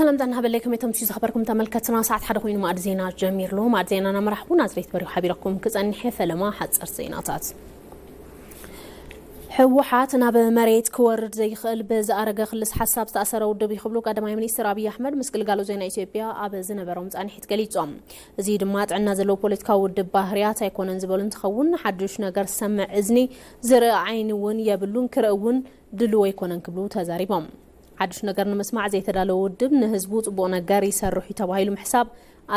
ሰላም ዳና ሃበለይ ከመይ ተምሽዩ ዝኸበርኩም ተመልከትና ሰዓት ሓደ ኮይኑ ማዕድ ዜና ጀሚር ኣሎ ማዕድ ዜና ናመራሕኹ ናዝሬት በሪሁ ሓቢረኩም ክጸንሐ ፈለማ ሓጸር ዜናታት ህወሓት ናብ መሬት ክወርድ ዘይኽእል ብዝኣረገ ክልስ ሓሳብ ዝተኣሰረ ውድብ እዩ ክብሉ ቀዳማይ ሚኒስትር ኣብዪ ኣሕመድ ምስ ግልጋሎት ዜና ኢትዮጵያ ኣብ ዝነበሮም ፃንሒት ገሊፆም እዚ ድማ ጥዕና ዘለዎ ፖለቲካዊ ውድብ ባህርያት ኣይኮነን ዝበሉ እንትኸውን፣ ሓዱሽ ነገር ዝሰምዕ እዝኒ፣ ዝርኢ ዓይኒ እውን የብሉን፣ ክርኢ እውን ድሉው ኣይኮነን ክብሉ ተዛሪቦም። ሓዱሽ ነገር ንምስማዕ ዘይተዳለወ ውድብ ንህዝቡ ፅቡቕ ነገር ይሰርሕ እዩ ተባሂሉ ምሕሳብ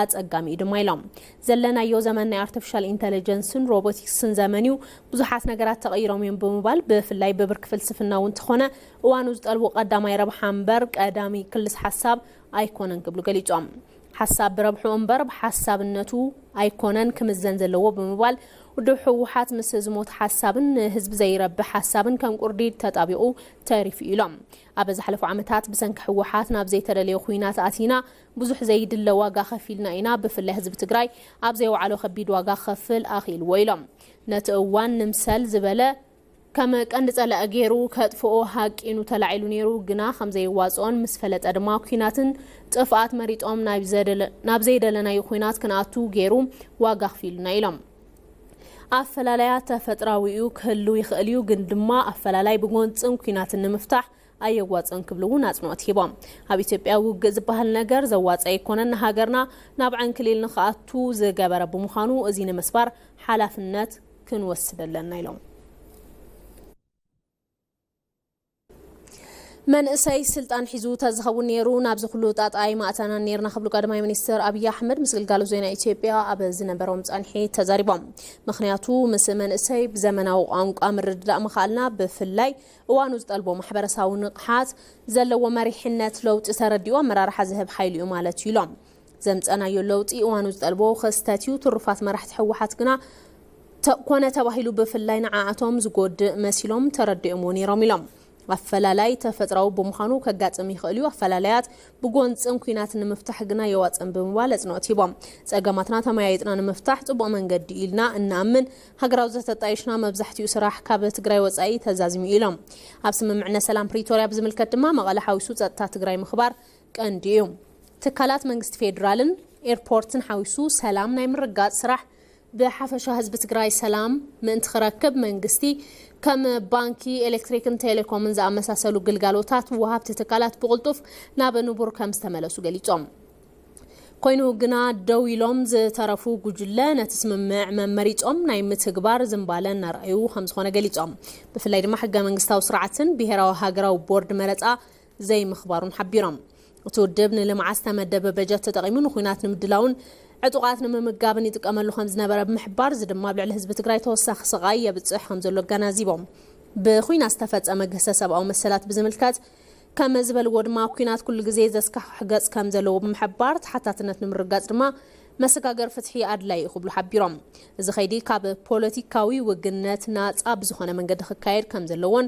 ኣፀጋሚ እዩ ድማ ኢሎም። ዘለናዮ ዘመን ናይ ኣርቲፊሻል ኢንተለጀንስን ሮቦቲክስን ዘመን እዩ፣ ብዙሓት ነገራት ተቐይሮም እዮም ብምባል ብፍላይ ብብርኪ ፍልስፍና እውን ተኾነ እዋኑ ዝጠልቦ ቀዳማይ ረብሓ እምበር ቀዳሚ ክልስ ሓሳብ ኣይኮነን ክብሉ ገሊፆም። ሓሳብ ብረብሕኡ እምበር ብሓሳብነቱ ኣይኮነን ክምዘን ዘለዎ ብምባል፣ ውድብ ህወሓት ምስ ዝሞተ ሓሳብን ንህዝቢ ዘይረብሕ ሓሳብን ከም ቁርዲድ ተጣቢቑ ተሪፉ እዩ ኢሎም። ኣብ ዝሓለፉ ዓመታት ብሰንኪ ህወሓት ናብ ዘይተደለየ ኹናት ኣቲና፣ ብዙሕ ዘይድለ ዋጋ ከፊልና ኢና፣ ብፍላይ ህዝቢ ትግራይ ኣብ ዘይወዓሎ ከቢድ ዋጋ ክኸፍል ኣኽኢልዎ ኢሎም። ነቲ እዋን ንምሰል ዝበለ ከም ቀንዲ ጸላኢ ገይሩ ከጥፍኦ ሃቂኑ ተላዒሉ ነይሩ፣ ግና ከም ዘየዋጽኦን ምስ ፈለጠ ድማ ኲናትን ጥፍኣት መሪጾም ናብ ዘይደለናዩ ዂናት ክንኣቱ ገይሩ ዋጋ ኣኽፊሉና ኢሎም። ኣፈላላያ ተፈጥራዊ'ዩ ክህሉ ይኽእል'ዩ ግን ድማ ኣፈላላይ ብጎንጽን ኲናትን ንምፍታሕ ኣየዋጽእን ክብሉ እውን ኣጽንኦት ሂቦም። ኣብ ኢትዮጵያ ውግእ ዝበሃል ነገር ዘዋጽእ ኣይኮነን ንሃገርና ናብ ዕንክሊል ንኽኣቱ ዝገበረ ብምዃኑ እዚ ንምስባር ሓላፍነት ክንወስድ ኣለና ኢሎም። መንእሰይ ስልጣን ሒዙ ተዝኸውን ነይሩ ናብዚ ኩሉ ጣጣ ኣይማእተናን ነይርና ክብሉ ቀዳማይ ሚኒስትር ኣብዪ ኣሕመድ ምስ ግልጋሎት ዜና ኢትዮጵያ ኣብ ዝነበሮም ፃንሒት ተዛሪቦም። ምኽንያቱ ምስ መንእሰይ ብዘመናዊ ቋንቋ ምርድዳእ ምኽኣልና ብፍላይ እዋኑ ዝጠልቦ ማሕበረሳዊ ንቕሓት ዘለዎ መሪሕነት ለውጢ ተረዲኡ ኣመራርሓ ዝህብ ሓይሊ'ዩ ማለት እዩ ኢሎም። ዘምፀእናዮ ለውጢ እዋኑ ዝጠልቦ ክስተት ዩ። ትሩፋት መራሕቲ ህወሓት ግና ተእ ኮነ ተባሂሉ ብፍላይ ንዓኣቶም ዝጎድእ መሲሎም ተረዲኦምዎ ነይሮም ኢሎም። ኣፈላላይ ተፈጥራዊ ብምዃኑ ከጋጥም ይኽእል ዩ፣ ኣፈላላያት ብጎንፅን ኲናትን ንምፍታሕ ግና የዋፅእን ብምባል ኣፅንኦት ሂቦም። ፀገማትና ተመያይጥና ንምፍታሕ ፅቡቕ መንገዲ ዩ ኢልና እንኣምን። ሃገራዊ ዘተ ኣጣይሽና መብዛሕቲኡ ስራሕ ካብ ትግራይ ወፃኢ ተዛዚሙ ዩ ኢሎም። ኣብ ስምምዕነት ሰላም ፕሪቶሪያ ብዝምልከት ድማ መቐለ ሓዊሱ ፀጥታ ትግራይ ምኽባር ቀንዲ እዩ። ትካላት መንግስቲ ፌዴራልን ኤርፖርትን ሓዊሱ ሰላም ናይ ምርጋፅ ስራሕ ብሓፈሻ ህዝቢ ትግራይ ሰላም ምእንቲ ክረክብ መንግስቲ ከም ባንኪ፣ ኤሌክትሪክን ቴሌኮምን ዝኣመሳሰሉ ግልጋሎታት ወሃብቲ ትካላት ብቕልጡፍ ናብ ንቡር ከም ዝተመለሱ ገሊፆም። ኮይኑ ግና ደው ኢሎም ዝተረፉ ጉጅለ ነቲ ስምምዕ መመሪፆም ናይ ምትግባር ዝምባለ እናርኣዩ ከምዝኾነ ገሊፆም። ብፍላይ ድማ ሕገ መንግስታዊ ስርዓትን ብሄራዊ ሃገራዊ ቦርድ መረፃ ዘይምኽባሩን ሓቢሮም። እቲ ውድብ ንልምዓት ዝተመደበ በጀት ተጠቒሙ ንኹናት ንምድላውን ዕጡቓት ንምምጋብን ይጥቀመሉ ከምዝነበረ ብምሕባር እዚ ድማ ኣብ ልዕሊ ህዝቢ ትግራይ ተወሳኺ ስቓይ የብፅሕ ከምዘሎ ኣገናዚቦም። ብኹናት ዝተፈፀመ ግህሰት ሰብኣዊ መሰላት ብዝምልከት ከመዝበልዎ ድማ ኩናት ኩሉ ግዜ ዘስካሕክሕ ገፅ ከምዘለዎ ብምሕባር ተሓታትነት ንምርግጋፅ ድማ መሰጋገሪ ፍትሒ ኣድላዪ እዩ ክብሉ ሓቢሮም። እዚ ከይዲ ካብ ፖለቲካዊ ውግነት ናፃ ብዝኾነ መንገዲ ክካየድ ከምዘለዎን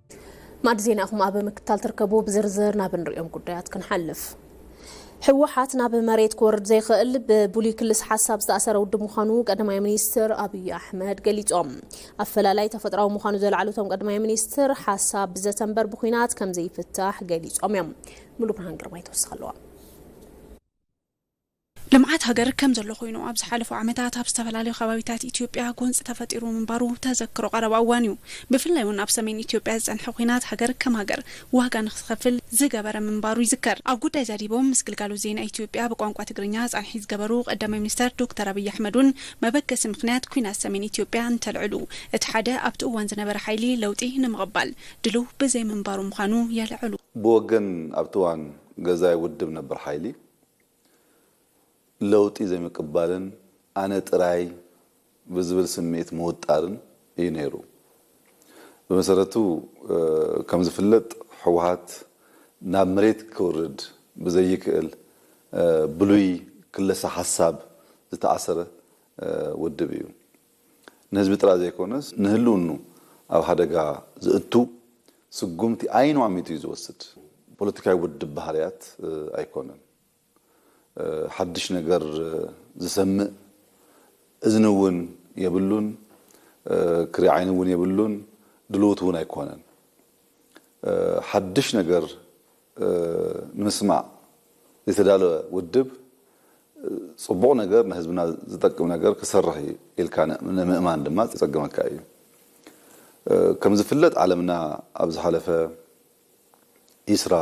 ማዕዲ ዜና ኢኹም ኣብ ምክትታል ትርከቡ። ብዝርዝር ናብ እንሪኦም ጉዳያት ክንሓልፍ። ህወሓት ናብ መሬት ክወርድ ዘይኽእል ብብሉይ ክልስ ሓሳብ ዝተኣሰረ ውድብ ምዃኑ ቀዳማይ ሚኒስትር ኣብዪ ኣሕመድ ገሊፆም። ኣፈላላይ ተፈጥራዊ ምዃኑ ዘልዓሉ እቶም ቀዳማይ ሚኒስትር ሓሳብ ብዘተ እምበር ብኩናት ከምዘይፍታሕ ገሊፆም እዮም። ሙሉ ብርሃን ግርማይ ተወሳኺ ኣለዋ። ልምዓት ሃገር ከም ዘሎ ኮይኑ ኣብ ዝሓለፉ ዓመታት ኣብ ዝተፈላለዩ ከባቢታት ኢትዮጵያ ጎንፂ ተፈጢሩ ምንባሩ ተዘክሮ ቀረባ እዋን እዩ። ብፍላይ እውን ኣብ ሰሜን ኢትዮጵያ ዝፀንሐ ኹናት ሃገር ከም ሃገር ዋጋ ንክትኸፍል ዝገበረ ምንባሩ ይዝከር። ኣብ ጉዳይ ዛዲቦም ምስ ግልጋሎት ዜና ኢትዮጵያ ብቋንቋ ትግርኛ ፃንሒት ዝገበሩ ቀዳማይ ሚኒስተር ዶክተር ኣብይ ኣሕመድ እውን መበገሲ ምኽንያት ኲናት ሰሜን ኢትዮጵያ እንተልዕሉ እቲ ሓደ ኣብቲ እዋን ዝነበረ ሓይሊ ለውጢ ንምቕባል ድልው ብዘይምንባሩ ምዃኑ የልዕሉ። ብወገን ኣብቲ እዋን ገዛኢ ውድብ ነበር ሓይሊ ለውጢ ዘይምቅባልን ኣነ ጥራይ ብዝብል ስምዒት ምውጣርን እዩ ነይሩ። ብመሰረቱ ከምዝፍለጥ ህወሓት ናብ መሬት ክውርድ ብዘይክእል ብሉይ ክለሳ ሓሳብ ዝተኣሰረ ውድብ እዩ። ንህዝቢ ጥራይ ዘይኮነስ ንህልውንኡ ኣብ ሓደጋ ዘእቱ ስጉምቲ ዓይኑ ኣሚቱ እዩ ዝወስድ። ፖለቲካዊ ውድብ ባህርያት ኣይኮነን። ሓድሽ ነገር ዝሰምእ እዝኒ እውን የብሉን፣ ክሪ ዓይኒ እውን የብሉን፣ ድሉውት እውን ኣይኮነን። ሓድሽ ነገር ንምስማዕ ዝተዳለወ ውድብ ፅቡቕ ነገር ንህዝብና ዝጠቅም ነገር ክሰርሕ እዩ ኢልካ ንምእማን ድማ ዘፀግመካ እዩ። ከምዝፍለጥ ዓለምና ኣብ ዝሓለፈ ዒስራ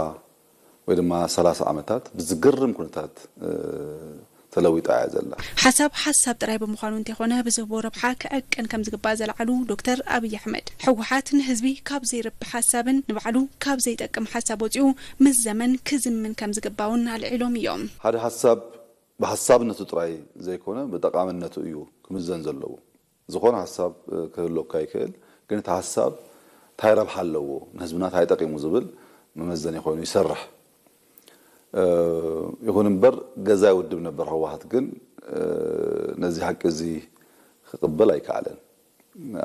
ወይ ድማ ሰላሳ ዓመታት ብዝገርም ኩነታት ተለዊጣ እያ ዘላ። ሓሳብ ሓሳብ ጥራይ ብምዃኑ እንተይኾነ ብዝህቦ ረብሓ ክዕቀን ከምዝግባእ ዘለዓሉ ዶክተር ኣብይ ኣሕመድ፣ ህወሓት ንህዝቢ ካብ ዘይረብሕ ሓሳብን ንባዕሉ ካብ ዘይጠቅም ሓሳብ ወፂኡ ምስ ዘመን ክዝምን ከምዝግባእ እውን ኣልዒሎም እዮም። ሓደ ሓሳብ ብሓሳብነቱ ጥራይ ዘይኮነ ብጠቓምነቱ እዩ ክምዘን ዘለዎ። ዝኾነ ሐሳብ ክህሎካ ይክእል ግን እቲ ሐሳብ ታይ ረብሓ ኣለዎ ንህዝብና ታይ ጠቂሙ ዝብል መመዘኒ ኮይኑ ይሰርሕ ይኹን እምበር ገዛይ ውድብ ነበር ህወሓት ግን ነዚ ሐቂ እዚ ክቅበል ኣይከኣለን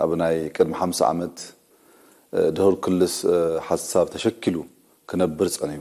ኣብ ናይ ቅድሚ ሓምሳ ዓመት ድሁር ክልስ ሐሳብ ተሸኪሉ ክነብር ፀንሑ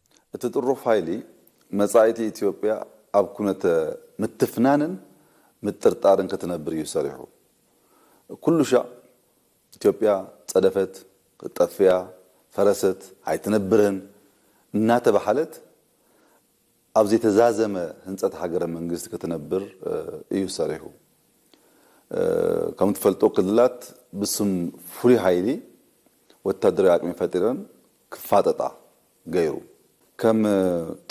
እቲ ጥሩፍ ሃይሊ መጻኢቲ ኢትዮጵያ ኣብ ኩነተ ምትፍናንን ምጥርጣርን ክትነብር እዩ ሰሪሑ። ኩሉሻዕ ኢትዮጵያ ጸደፈት፣ ክትጠፍእያ፣ ፈረሰት፣ ኣይትነብርን እናተበሃለት ኣብ ዘይተዛዘመ ህንጸት ሃገረ መንግስቲ ክትነብር እዩ ሰሪሑ። ከምትፈልጦ ክልላት ብስም ፍሉይ ሃይሊ ወታደራዊ ኣቅሚ ፈጢረን ክፋጠጣ፣ ገይሩ። ከም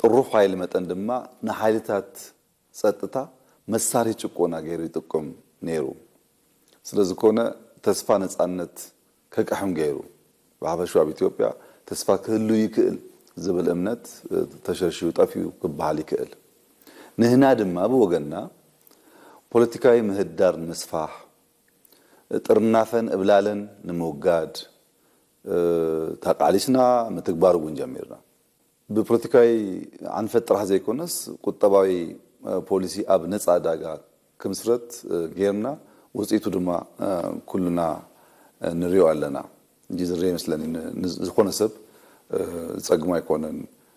ጥሩፍ ሓይሊ መጠን ድማ ንሓይልታት ጸጥታ መሳርሒ ጭቆና ገይሩ ይጥቁም ነይሩ። ስለዝኮነ ተስፋ ነጻነት ከቅሕም ገይሩ። ብሓፈሽኡ ኣብ ኢትዮጵያ ተስፋ ክህሉ ይክእል ዝብል እምነት ተሸርሺሩ ጠፊኡ ክበሃል ይክእል። ንህና ድማ ብወገንና ፖለቲካዊ ምህዳር ንምስፋሕ፣ ጥርናፈን እብላለን ንምውጋድ፣ ተቃሊስና ምትግባር እውን ጀሚርና። ብፖለቲካዊ ኣንፈት ጥራሕ ዘይኮነስ ቁጠባዊ ፖሊሲ ኣብ ነፃ ዕዳጋ ክምስረት ገይርና ውፅኢቱ ድማ ኩልና ንሪኦ ኣለና። እንጂ ዝርእ ይመስለኒ ንዝኾነ ሰብ ዝፀግሞ ኣይኮነን።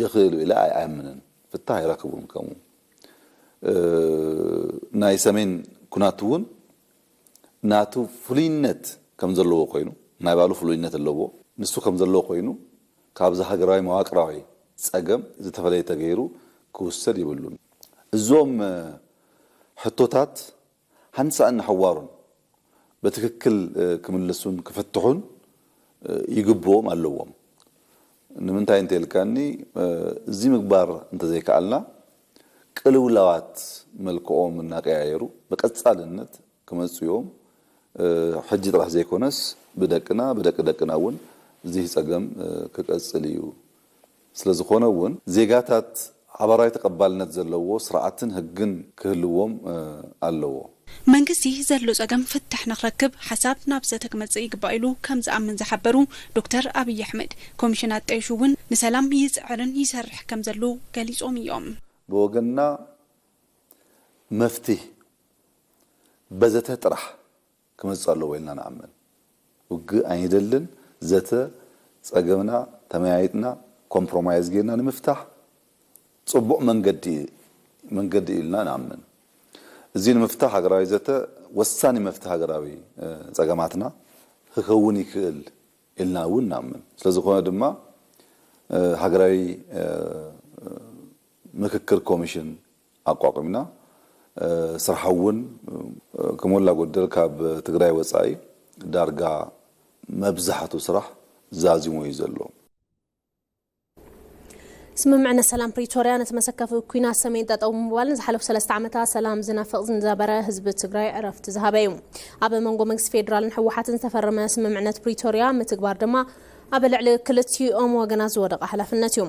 ይኽእሉ ኢለ ኣይኣምንን ፍታህ ኣይረክቡን ከምኡ ናይ ሰሜን ኩናት እውን ናቱ ፍሉይነት ከም ዘለዎ ኮይኑ ናይ ባሉ ፍሉይነት ኣለዎ ንሱ ከም ዘለዎ ኮይኑ ካብዚ ሃገራዊ መዋቅራዊ ጸገም ዝተፈለየ ተገይሩ ክውሰድ ይብሉን እዞም ሕቶታት ሓንሳእን ንሓዋሩን በትክክል ክምልሱን ክፍትሑን ይግብኦም ኣለዎም። ንምንታይ እንተኢልካኒ እዚ ምግባር እንተዘይከኣልና ቅልውላዋት መልክዖም እናቀያየሩ ብቀጻልነት ክመጹ እዮም። ሕጂ ጥራሕ ዘይኮነስ ብደቅና ብደቂ ደቅና እውን እዚ ጸገም ክቀጽል እዩ ስለዝኾነ እውን ዜጋታት ሓባራዊ ተቐባልነት ዘለዎ ስርዓትን ህግን ክህልዎም ኣለዎ። መንግስቲ ዘሎ ፀገም ፍታሕ ንክረክብ ሓሳብ ናብ ዘተ ክመፅእ ይግባእ ኢሉ ከምዝኣምን ዝሓበሩ ዶክተር ኣብይ ኣሕመድ፣ ኮሚሽን ኣጣይሹ እውን ንሰላም ይፅዕርን ይሰርሕ ከምዘሎ ገሊፆም እዮም። ብወገንና መፍትህ በዘተ ጥራሕ! ክመጽእ ኣለዎ ኢልና ንኣምን። ውግእ ኣይንደልን። ዘተ ጸገምና ተመያይጥና ኮምፕሮማይዝ ጌርና ንምፍታሕ ጽቡቕ መንገዲ መንገዲ እዩ ኢልና ንኣምን። እዚ ንምፍታሕ ሃገራዊ ዘተ ወሳኒ መፍትሒ ሃገራዊ ጸገማትና ክከውን ይክእል ኢልና እውን ንኣምን። ስለዝኾነ ድማ ሃገራዊ ምክክር ኮሚሽን ኣቋቒምና ስርሓ እውን ከሞላ ጎደል ካብ ትግራይ ወፃኢ ዳርጋ መብዛሕቱ ስራሕ ዛዚሙ እዩ ዘሎ። ስምምዕነት ሰላም ፕሪቶርያ ነቲ መሰከፊ ኩናት ሰሜን ጠጠው ብምባል ንዝሓለፉ ሰለስተ ዓመታት ሰላም ዝናፍቕ ዝነበረ ህዝቢ ትግራይ ዕረፍቲ ዝሃበ እዩ። ኣብ መንጎ መንግስቲ ፌዴራልን ህወሓትን ዝተፈረመ ስምምዕነት ፕሪቶርያ ምትግባር ድማ ኣብ ልዕሊ ክልቲኦም ወገናት ዝወደቐ ሓላፍነት እዩ።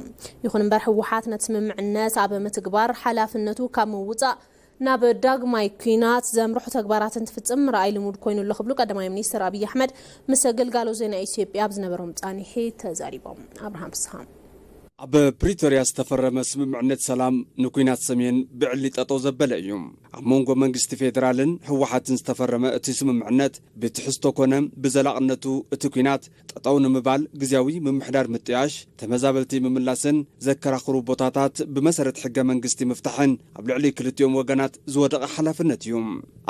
ይኹን እምበር ህወሓት ነቲ ስምምዕነት ኣብ ምትግባር ሓላፍነቱ ካብ ምውፃእ ናብ ዳግማይ ኲናት ዘምርሑ ተግባራት እንትፍፅም ምርኣይ ልሙድ ኮይኑ ኣሎ ክብሉ ቀዳማይ ሚኒስትር ኣብይ ኣሕመድ ምስ ግልጋሎት ዜና ኢትዮጵያ ኣብ ዝነበሮም ፃኒሒት ተዛሪቦም። ኣብርሃም ፍስሃ። ኣብ ፕሪቶርያ ዝተፈረመ ስምምዕነት ሰላም ንኲናት ሰሜን ብዕሊ ጠጠው ዘበለ እዩ። ኣብ መንጎ መንግስቲ ፌዴራልን ህወሓትን ዝተፈረመ እቲ ስምምዕነት ብትሕዝቶ ኮነ ብዘላቕነቱ እቲ ኲናት ጠጠው ንምባል ግዝያዊ ምምሕዳር ምጥያሽ፣ ተመዛበልቲ ምምላስን ዘከራኽሩ ቦታታት ብመሰረት ሕገ መንግስቲ ምፍታሕን ኣብ ልዕሊ ክልቲኦም ወገናት ዝወደቐ ሓላፍነት እዩ።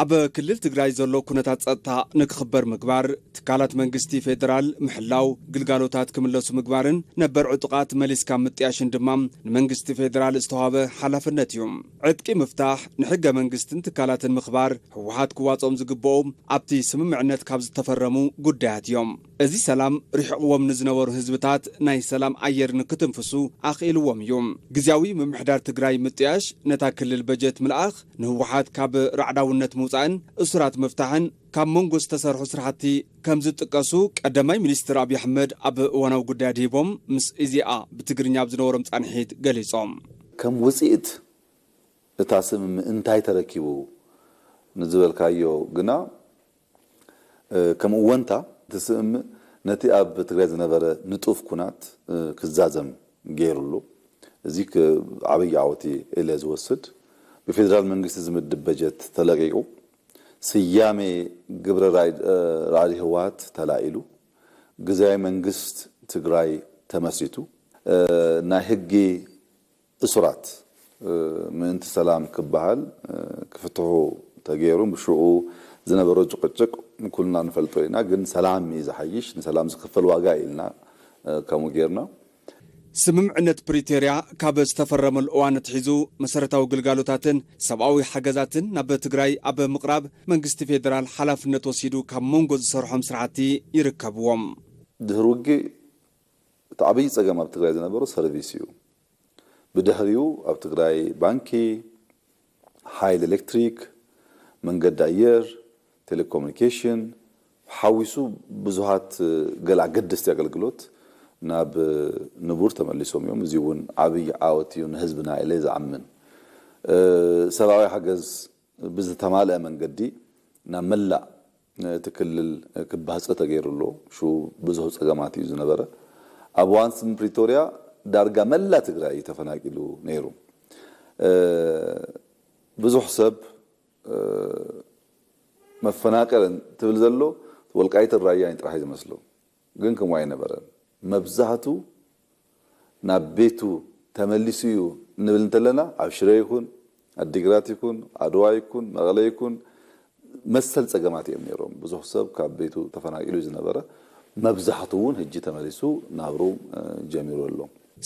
ኣብ ክልል ትግራይ ዘሎ ኩነታት ፀጥታ ንክኽበር ምግባር፣ ትካላት መንግስቲ ፌደራል ምሕላው፣ ግልጋሎታት ክምለሱ ምግባርን ነበር ዕጡቓት መሊስካ ምጥያሽን ድማ ንመንግስቲ ፌደራል ዝተዋህበ ሓላፍነት እዩ። ዕጥቂ ምፍታሕ፣ ንሕገ መንግስትን ትካላትን ምኽባር፣ ህወሓት ክዋፅኦም ዝግበኡ ኣብቲ ስምምዕነት ካብ ዝተፈረሙ ጉዳያት እዮም። እዚ ሰላም ሪሕቕዎም ንዝነበሩ ህዝብታት ናይ ሰላም ኣየር ንክትንፍሱ ኣኽኢልዎም እዩ። ግዝያዊ ምምሕዳር ትግራይ ምጥያሽ፣ ነታ ክልል በጀት ምልኣኽ፣ ንህወሓት ካብ ራዕዳውነት ምውፃእን እሱራት ምፍታሕን፣ ካብ መንጎ ዝተሰርሑ ስራሕቲ ከምዝጥቀሱ ቀዳማይ ሚኒስትር ኣብዪ ኣሕመድ ኣብ እዋናዊ ጉዳይ ኣድሂቦም ምስ ኢዜኣ ብትግርኛ ኣብ ዝነበሮም ፃንሒት ገሊፆም። ከም ውፅኢት እታ ስምምዕ እንታይ ተረኪቡ ንዝበልካዮ ግና ከም እወንታ እቲ ስምምዕ ነቲ ኣብ ትግራይ ዝነበረ ንጡፍ ኩናት ክዛዘም ገይሩ ኣሎ። እዚ ዓብዪ ዓወት ኢየ ኢለ ዝወስድ። ብፌዴራል መንግስቲ ዝምድብ በጀት ተለቒቑ ስያሜ ግብረ ራዕዲ ህወሓት ተላዒሉ፣ ግዝያዊ መንግስት ትግራይ ተመስሪቱ፣ ናይ ህጊ እሱራት ምእንቲ ሰላም ክበሃል ክፍትሑ ተገይሩ፣ ብሽዑ ዝነበሮ ጭቕጭቕ ኩልና ንፈልጦ ኢና፣ ግን ሰላም እዩ ዝሓይሽ፣ ንሰላም ዝኽፈል ዋጋ ኢልና ከምኡ ገይርና። ስምምዕነት ፕሪቶርያ ካብ ዝተፈረመሉ እዋን ኣትሒዙ መሰረታዊ ግልጋሎታትን ሰብኣዊ ሓገዛትን ናብ ትግራይ ኣብ ምቕራብ መንግስቲ ፌደራል ሓላፍነት ወሲዱ ካብ ሞንጎ ዝሰርሖም ስራሕቲ ይርከብዎም። ድህሪ ውግእ እቲ ዓብይ ፀገም ኣብ ትግራይ ዝነበሮ ሰርቪስ እዩ። ብድሕሪኡ ኣብ ትግራይ ባንኪ፣ ሓይሊ ኤሌክትሪክ፣ መንገዲ ኣየር፣ ቴሌኮሙኒኬሽን ሓዊሱ ብዙሃት ገለ ኣገደስቲ ኣገልግሎት ናብ ንቡር ተመሊሶም እዮም። እዚ እውን ዓብዪ ዓወት እዩ ንህዝብና ኢለ ዝኣምን። ሰብኣዊ ሓገዝ ብዝተማልኣ መንገዲ ናብ መላእ እቲ ክልል ክባህፀ ተገይሩ ኣሎ። ሽኡ ብዙሕ ፀገማት እዩ ዝነበረ። ኣብ እዋን ስምምዕ ፕሪቶርያ ዳርጋ መላእ ትግራይ እዩ ተፈናቂሉ ነይሩ። ብዙሕ ሰብ መፈናቀል እንትብል ዘሎ ወልቃይትን ራያን እዩ ጥራሕ እዩ ዝመስሎ። ግን ከምኡ ኣይነበረን። መብዛህቱ ናብ ቤቱ ተመሊሱ ዩ እንብል እንተለና ኣብ ሽረ ይኹን ኣዲግራት ይኹን ዓድዋ ይኩን መቐለ ይኩን መሰል ፀገማት እዮም ነይሮም ብዙሕ ሰብ ካብ ቤቱ ተፈናቂሉ ዩ ዝነበረ መብዛሕቱ ውን ህጂ ተመሊሱ ናብርኡ ጀሚሩ ኣሎ።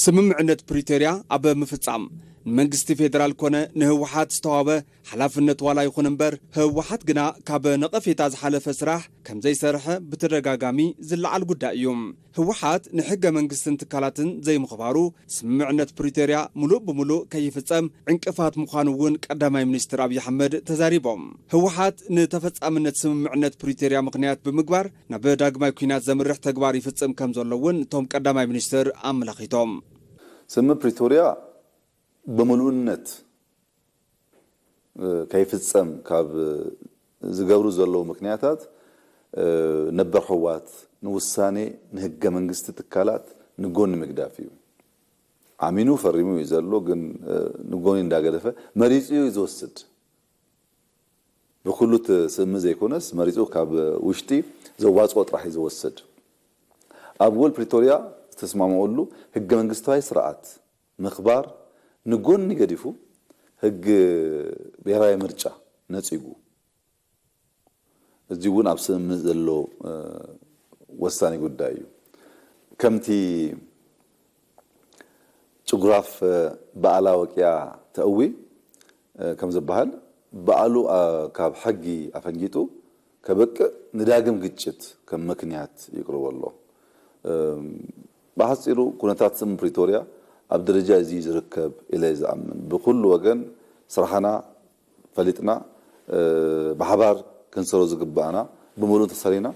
ስምምዕነት ፕሪቶርያ ኣብ ምፍፃም ንመንግስቲ ፌደራል ኮነ ንህወሓት ዝተዋህበ ሓላፍነት ዋላ ይኹን እምበር ህወሓት ግና ካብ ነቐፌታ ዝሓለፈ ስራሕ ከምዘይሰርሐ ብተደጋጋሚ ዝለዓል ጉዳይ እዩ። ህወሓት ንሕገ መንግስትን ትካላትን ዘይምኽባሩ፣ ስምምዕነት ፕሪቶርያ ሙሉእ ብሙሉእ ከይፍፀም ዕንቅፋት ምዃኑ እውን ቀዳማይ ሚኒስትር ኣብይ ኣሕመድ ተዛሪቦም። ህወሓት ንተፈፃምነት ስምምዕነት ፕሪቶርያ ምኽንያት ብምግባር ናብ ዳግማይ ኲናት ዘምርሕ ተግባር ይፍፅም ከምዘሎ እውን እቶም ቀዳማይ ሚኒስትር ኣመላኺቶም። ስምምዕ ፕሪቶርያ ብምሉእነት ከይፍፀም ካብ ዝገብሩ ዘለዉ ምክንያታት ነበር ሕዋት ንውሳኔ ንህገ መንግስቲ ትካላት ንጎኒ ምግዳፍ እዩ። ኣሚኑ ፈሪሙ እዩ ዘሎ ግን ንጎኒ እንዳገደፈ መሪፁ እዩ ዝወስድ ብኩሉ እቲ ስምምዕ ዘይኮነስ መሪፁ ካብ ውሽጢ ዘዋፅኦ ጥራሕ እዩ ዝወስድ። ኣብ ውል ፕሪቶሪያ ዝተስማምዕሉ ህገ መንግስታዊ ስርዓት፣ ምክባር ንጎኒ ገዲፉ ህግ ብሄራዊ ምርጫ ነጺጉ እዚ ውን ኣብ ስምምዕ ዘሎ ወሳኒ ጉዳይ እዩ ከምቲ ጭጉራፍ ብኣላ ወቂያ ተእዊ ከምዝባሃል ብኣሉ ካብ ሕጊ ኣፈንጊጡ ከብቅእ ንዳግም ግጭት ከም መክንያት ይቅርቦ ኣሎ። ብሓጺሩ ኩነታት ስም ፕሪቶርያ ኣብ ደረጃ እዚ'ዩ ዝርከብ ኢለ'የ ዝኣምን። ብኹሉ ወገን ስራሕና ፈሊጥና ብሓባር ክንሰሮ ዝግበኣና ብምሉእ እንተሰሪና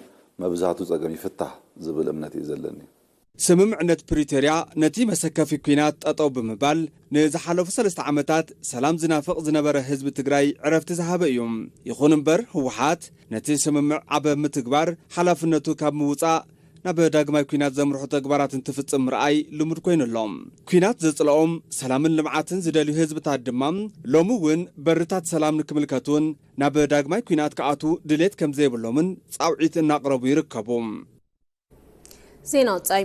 መብዛህቱ ጸገም ይፍታሕ ዝብል እምነት'ዩ ዘለኒ። ስምምዕነት ፕሪቶርያ ነቲ መሰከፊ ኩናት ጠጠው ብምባል ንዝሓለፉ ሰለስተ ዓመታት ሰላም ዝናፍቕ ዝነበረ ህዝቢ ትግራይ ዕረፍቲ ዝሃበ እዩ። ይኹን እምበር ህወሓት ነቲ ስምምዕ ኣብ ምትግባር ሓላፍነቱ ካብ ምውጻእ ናብ ዳግማይ ኲናት ዘምርሑ ተግባራት እንትፍጽም ምርኣይ ልሙድ ኮይኑ ኣሎ። ኲናት ዘጽልኦም፣ ሰላምን ልምዓትን ዝደልዩ ህዝብታት ድማ ሎሚ እውን በርታት ሰላም ንክምልከቱን ናብ ዳግማይ ኲናት ክኣትዉ ድሌት ከም ዘይብሎምን ጻውዒት እናቕረቡ ይርከቡ። ዜና ወጻኢ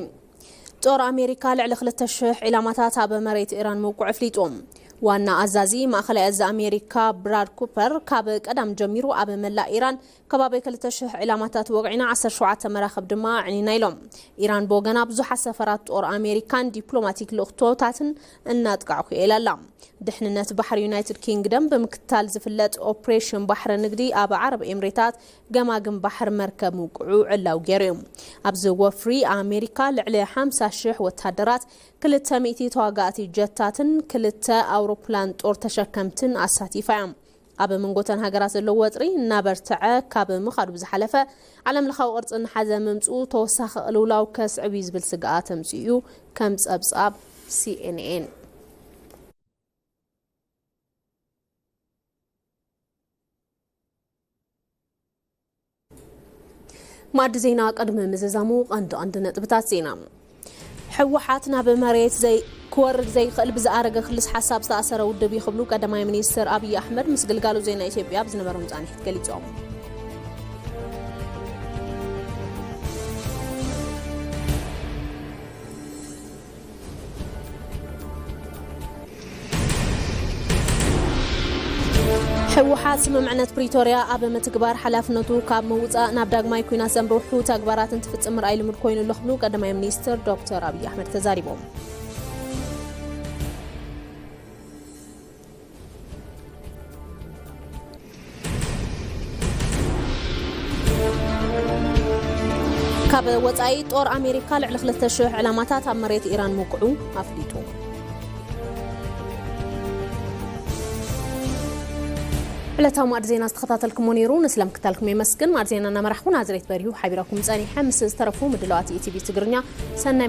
ጦር ኣሜሪካ ልዕሊ ክልተ ሽሕ ዒላማታት ኣብ መሬት ኢራን ምውቅዑ ኣፍሊጡ። ዋና ኣዛዚ ማእኸላይ እዚ ኣሜሪካ ብራድ ኩፐር ካብ ቀዳም ጀሚሩ ኣብ መላእ ኢራን ከባቢ ክልተ ሽሕ ዒላማታት ወቒዕና ዓሰርተ ሸውዓተ መራኽብ ድማ ኣዕኒና ኢሎም። ኢራን ብወገና ብዙሓት ሰፈራት ጦር ኣሜሪካን ዲፕሎማቲክ ልኡኽቶታትን እናጥቃዕኩ'የ ኢላ ኣላ። ድሕንነት ባሕሪ ዩናይትድ ኪንግደም ብምክትታል ዝፍለጥ ኦፕሬሽን ባሕሪ ንግዲ ኣብ ዓረብ ኤምሬታት ገማግም ባሕር መርከብ ምውቅዑ ዕላዊ ገይሩ'ዩ። ኣብዚ ወፍሪ ኣሜሪካ ልዕሊ ሓምሳ ሽሕ ወተሃደራት፣ ክልተ ሚእቲ ተዋጋእቲ ጀታትን ክልተ ኣውሮፕላን ጦር ተሸከምትን ኣሳቲፋ'ያ። ኣብ መንጎ'ተን ሃገራት ዘሎ ወጥሪ እናበርትዐ ካብ ምኻዱ ብዝሓለፈ ዓለምለኻዊ ቅርጺ እናሓዘ ምምጽኡ ተወሳኺ ቅልውላው ከስዕብ'ዩ ዝብል ስግኣት ኣምጺኡ'ዩ ከም ጸብጻብ ሲኤንኤን። ማዕዲ ዜና ቅድሚ ምዝዛሙ ቀንዲ ቀንዲ ነጥብታት ዜና ህወሓት ናብ መሬት ዘይ ክወርድ ዘይኽእል ብዝኣረገ ክልስ ሓሳብ ዝተኣሰረ ውድብ እዩ ክብሉ ቀዳማይ ሚኒስትር ኣብዪ ኣሕመድ ምስ ግልጋሎት ዜና ኢትዮጵያ ኣብ ዝነበሮም ፃኒሒት ገሊፆም። ህወሓት ስምምዕነት ፕሪቶርያ ኣብ ምትግባር ሓላፍነቱ ካብ ምውፃእ ናብ ዳግማይ ኩናት ዘምርሑ ተግባራት እንትፍፅም ምርኣይ ልሙድ ኮይኑ ኣሎ ክብሉ ቀዳማይ ሚኒስትር ዶክተር ኣብዪ ኣሕመድ ተዛሪቦም። ካብ ወፃኢ ጦር ኣሜሪካ ልዕሊ 2,000 ዕላማታት ኣብ መሬት ኢራን ምውቅዑ ኣፍሊጡ። ዕለታዊ ማዕድ ዜና ዝተኸታተልኩሞ ነይሩ ንስለም ክታልኩም የመስግን። ማዕድ ዜና እናመራሕኩ ናዝሬት በሪሁ ሓቢራኩም ፀኒሐ ምስ ዝተረፉ ምድለዋት ኢቲቪ ትግርኛ ሰናይ